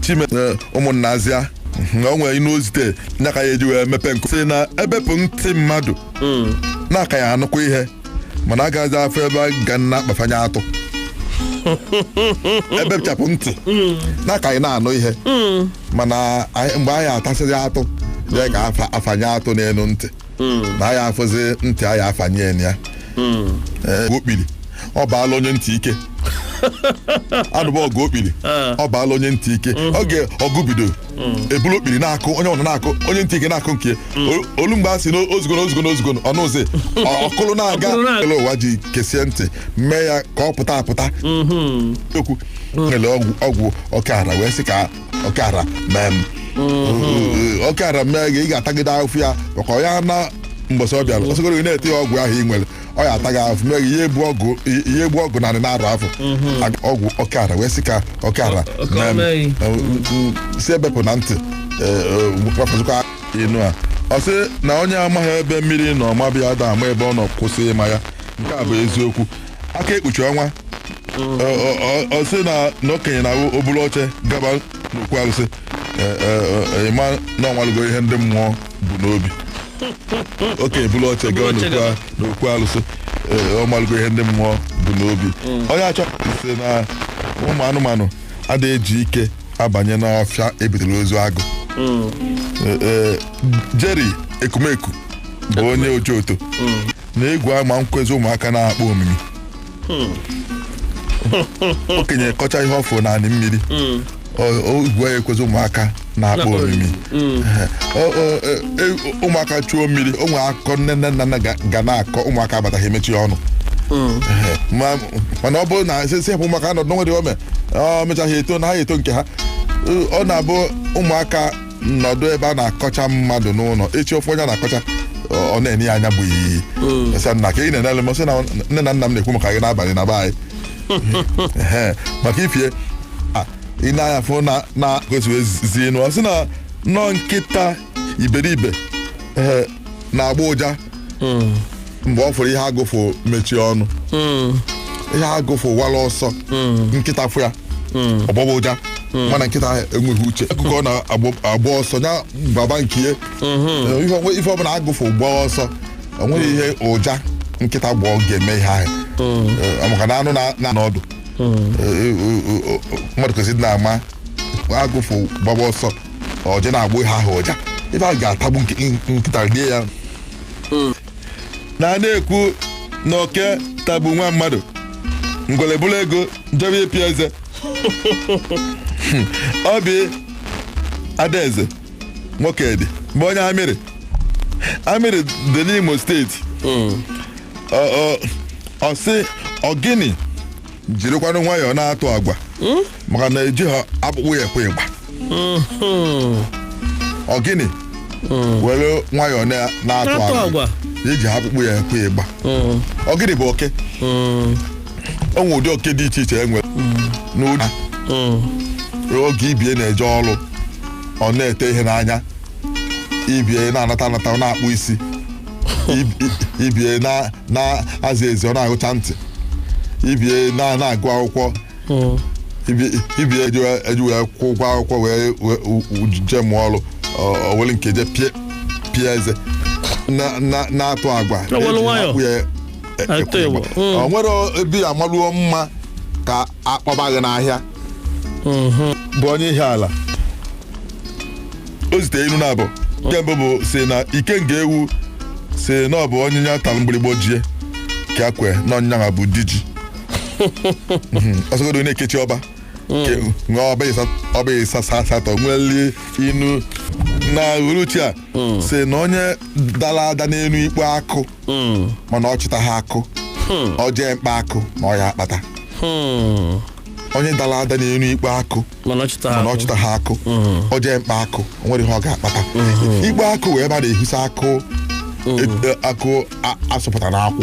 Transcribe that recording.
chime eh, ụmụnna azịa na o nwere inu ozite nya ka ya eji wee mepe nkụ sị na e bepụ ntị mmadụ na a ka ya-anụkwa ihe mana a gaghịzi afụ ebe a ga na-akpafanye atụ e bechapụ ntị na a ka ya na-anụ ihe mana anyị- mgbe a ya-atasị atụ ya ka afa- afanye atụ n'elu ntị na a ya-afụzi ntị a ya-afanye ya na ya Ee, ọgụ okpiri ọ baala onye ntị ike anụba ọgụ okpiri ọ baala onye ntị ike oge ọgụ bido e bulu okpiri na-akụ onye ọ na-akụ onye ntị ike na-akụ nke O- o lu mgbe a sị na o zugoro o zugoro o zugoro ọ nụzị ọ- ọ kụlụ na-aga Ọ kụlụ na-aga. ele ụwa ji kesie ntị mee ya ka ọ pụta apụta okwu ele ọgwụ ọgwụ ọkara wee sị ka ọkara mee m Ee, ọkara mee gị ị ga-atagide afụfụ ya maka ọ ya na mbọsị ọ bịara ọsọgoro gị na-ete ya ọgwụ ahụ ị nwere ọ ya ataghị afụfụ mee gị ihe egbu ọgụ ihe egbu ọgụ narị na-arụ afọ Aga- ọgwụ ọkara wee sị ka ọkara Ọka mee m. mee gị. Ee, m- m- sị e bepụ na ntị gbafụzikwa inu a ọ sị na onye amaghị ebe mmiri nọ maba ya ada ama ebe ọ nọ kwụsị ịma ya nke a bụ eziokwu aka ekpuchi ọnwa Ọ- ọ- ọ- ọ sị na na okenye na o buru oche gaba n'okwu arụsị Ee, ee, ee, ị ma na ọ malugo ihe ndị mmụọ bu n'obi okenye buru oche gaba oche n'okwu gaba. a- n'okwu arụsị Ee, ọ malugo ihe ndị mmụọ bu n'obi Onyeachọ sị na ụmụ anụmanụ adịghị eji ike abanye n'ọfịa e butere ozu agụ Ee, ee, Jerry Ekumeku bụ onye Ojoto na egwu ama ekwezi ụmụaka na-akpọ omimi okenye kọcha ihe ọ fụ n'ani mmiri ọ- ọ- egwu ya ekwezi ụmụaka na-akpọ Na-akpọ omimi Ehe. Ọ- ọ- e- e- ụmụaka chuo mmiri o nwere akụkọ nne nne nna nna ga- ga na-akọ ụmụaka bata ha emechie ọnụ Ehe. Ma- mana ọ bụrụ na a sị hapụ ụmụaka nọdụ n'onwe dị ome ọ mechaa ha eto na ha eto nke ha ọ na-abụ ụmụaka nọdụ ebe a na-akọcha mmadụ n'ụlọ echi ọ fụ onye a na-akọcha ọ ọ na-ene ya anya bụ iyi sị na ka ị na-enele m sị na nne na nna m na-ekwu maka gị n'abalị na be anyị Ehe, maka ife a, ị na-anya fụ na na kwesịrị ezi nụ ọ sị na na ọ nkịta iberibe ehe, na-agbọ ụja mgbe ọ fụrụ ihe agụ fụ mechie ọnụ ihe agụ fụ wara ọsọ nkịta fụ ya ọ gbọba ụja mana nkịta enweghị uche akụkọ na-agba ọsọ ya gbaba nke ihe Ihe ọbụla- ife ọbụla agụ fụ gbaa ọsọ enweghị ihe ụja nkịta gbọ ọ ga-eme ihe ahụ Eh, maka na anụ na- na n'ọdụ Eh, eh, eh, eh, mmadụ kwesịrị na-ama agụ fụ gbaba ọsọ o je na-agbọ ihe ahụ ụja ife ahụ ga-atagbu nke- nkịta rie ya na a na-ekwu na oke tagbu nwa mmadụ ngwere buru ego njebe ịpị eze ọ bụ Adaeze Nwokedi bụ onye Amiri Amiri dị n'Imo steeti ọ sị ọgịnị jirikwanụ nwayọọ na-atụ agwa maka na ejiha akpụkpọ ya ekwe igba ọgịnị were nwayọọ na- na-atụ Na-atụ agwa agwa. ejiha akpụkpọ ya ekwe igba ọgịnị bụ oke o nwere ụdị oke dị iche iche e nwere n'ụdị oge ibie na-eje ọrụ ọ na-ete ihe n'anya ibie na-anata anata ọ na-akpụ isi ibie na-aza ezi ọ na-agụcha ntị ibie na-agụ akwụkwọ hmm. ibie eji wee kwụ ụgwọ akwụkwọ wee jee mụọ ọrụ o were nke je pịa eze na-atụ agwa e e, e, o nwere ebe ya amaruo mma ka akpọbaghị n'ahịa bụ onye ihe ala o zite inu naabọ nke mbụ bụ si na ikenga ewu si na ọ bụ onye nya tara mgbịrịgbo jie ka kwe na ọ nya bụ di ji Mhm. ọ sọgodo na-ekechi ọba Ke- nwee ọba ịsa- ọba ịsa sa- asatọ nweli inu na uruchi a si na onye dara ada n'elu ikpe akụ mana ọ chịtaha akụ o jee mkpa akụ na ọ ya-akpata Hmm. onye dara ada n'elu ikpe akụ mana ọ chịta mana ọ akụ. chịtaha akụ o jee mkpa akụ o nwere ihe ọ ga-akpata ikpe akụ wụ ebe a na-ehisa akụ e- e- akụ a- asụpụta n'akwụ